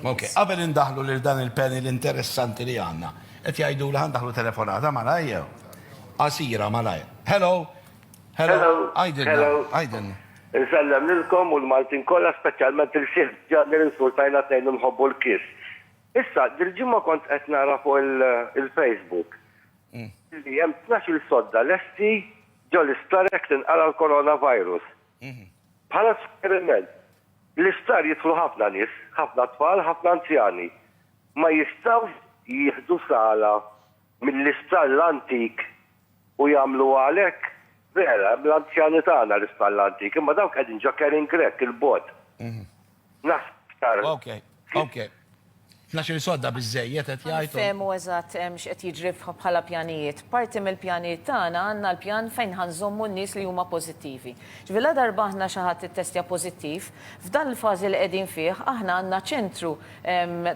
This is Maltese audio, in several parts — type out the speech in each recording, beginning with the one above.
Ok, qabel indaħlu lil dan il-panel interessanti li għanna, qed jgħidu li għandaħlu telefonata malajja. Asira malajja. Hello. Hello. Hello. Għajdin. Nsellem lilkom u l-Maltin kollha speċjalment il-sieħ ġanni l-insultajna tnejn nħobbu l-kis. Issa, dil-ġimgħa kont qed nara fuq il-Facebook mm. li hemm 12 sodda lesti ġol-istarek tinqara l-coronavirus. Bħala suġġeriment, bl-isptar jidħlu ħafna nies, ħafna tfal, ħafna anzjani. Ma jistgħux jieħdu sala mill-isptar l-antik u jagħmluha għalhekk? Vera, hemm l-anzjani tagħna l-isptar l-antik, imma dawk qegħdin ġo Karen Grech, 'il bogħod. Naħseb Ok, ok. Tnax-il sodda biżżejjed qed jgħid u. Nifhemu eżatt x'qed jiġri bħala pjanijiet. Parti mill-pjanijiet tagħna għandna l-pjan fejn ħa nżommu n-nies li huma pożittivi. Ġifieri ladarba aħna xi ħadd ittestja pożittiv, f'dan il-fażi li qegħdin fih aħna għandna ċentru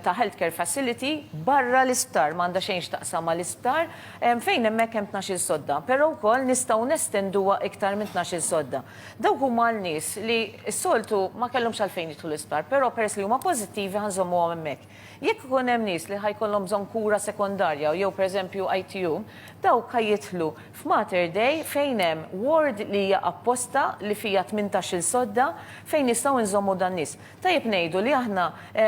ta' health care facility barra l-isptar, ma għandha xejn x'taqsam ma' l-isptar, fejn hemmhekk hemm tnax-il sodda. Però wkoll nistgħu nestenduha iktar minn tnax-il sodda. Dawk huma għal nies li s-soltu ma kellhomx għalfejn jidħlu l-isptar, però peress li huma pożittivi ħa nżommuhom hemmhekk. Jekk ikun hemm nies li ħa jkollhom bżonn kura sekondarja jew pereżempju ITU, dawk ħa jidħlu f'Mater Dei fejn hemm ward li hija apposta li fiha tmintax-il sodda fejn nistgħu nżommu dan-nies. Tajjeb ngħidu li aħna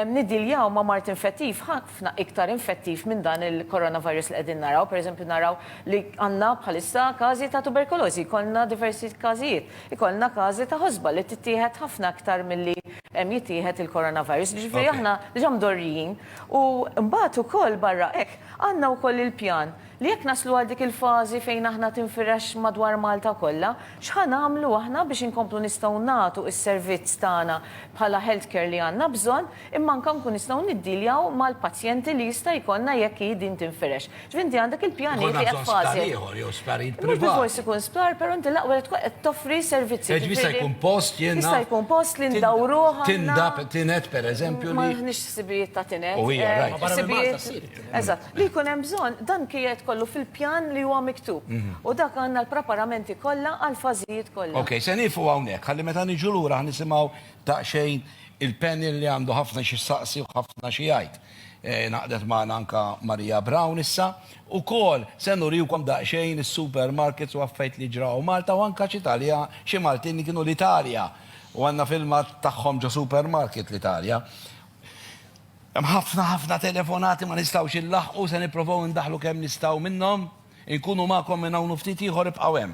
niddiljaw ma' mard infettiv ħa ħafna iktar infettiv minn dan il-coronavirus li qegħdin naraw. Per eżempju naraw li għandna bħalissa każi ta' tuberkulożi, jkollna diversi każijiet, ikollna każi ta' ħosba li tittieħed ħafna iktar milli jittieħed il-coronavirus. Jiġifieri aħna diġà mdorrijin u mbagħad ukoll barra hekk għandna wkoll il-pjan li jekk naslu għal dik il-fażi fejn aħna tinfirex madwar Malta kollha, x'ħa nagħmlu aħna biex inkomplu nistgħu nagħtu s-servizz tagħna bħala healthcare li għandna bżonn. imma anke nkun nistgħu niddealjaw mal-pazjenti li jista' jkollna jekk hi din tinfirex. Ġifieri inti għandek il-pjanijiet li qed fażi. Jkollna bżonn sptar ieħor jew sptarijiet privati. Mhux bilfors ikun sptar, però inti l-aqwa li tkun qed toffri servizzi. Ġifieri jista' jkun post jiena. Jista' jkun post li ndawruh għal. Tindab tined pereżempju li. M'aħniex ħsibijiet ta' tined. U hija rajt. Ma barra minn Malta ssir it-tined. Eżatt. Li jkun hemm bżonn dan qiegħed kollu fil-pjan li huwa miktub. U dak għandna l-preparamenti kollha għall-fażijiet kollha. Okej, se nieqfu hawnhekk ħalli meta niġu lura ħa nisimgħu Daqsxejn il-panel li għandu ħafna xi jsaqsi u ħafna xi jgħid. Ngħaqdet magħna anke Maria Brown issa. Ukoll se nuriwkom daqsxejn is-supermarkets u affarijiet li ġraw Malta u anke xi Talja, xi Maltin li kienu l-Italja u għandna filmat tagħhom ġo supermarket l-Italja. Hemm ħafna ħafna telefonati ma nistgħux inlaħħqu, se nipprovaw indaħħlu kemm nistgħu minnhom. Inkunu magħkom minn hawn u ftit ieħor ibqgħu hemm.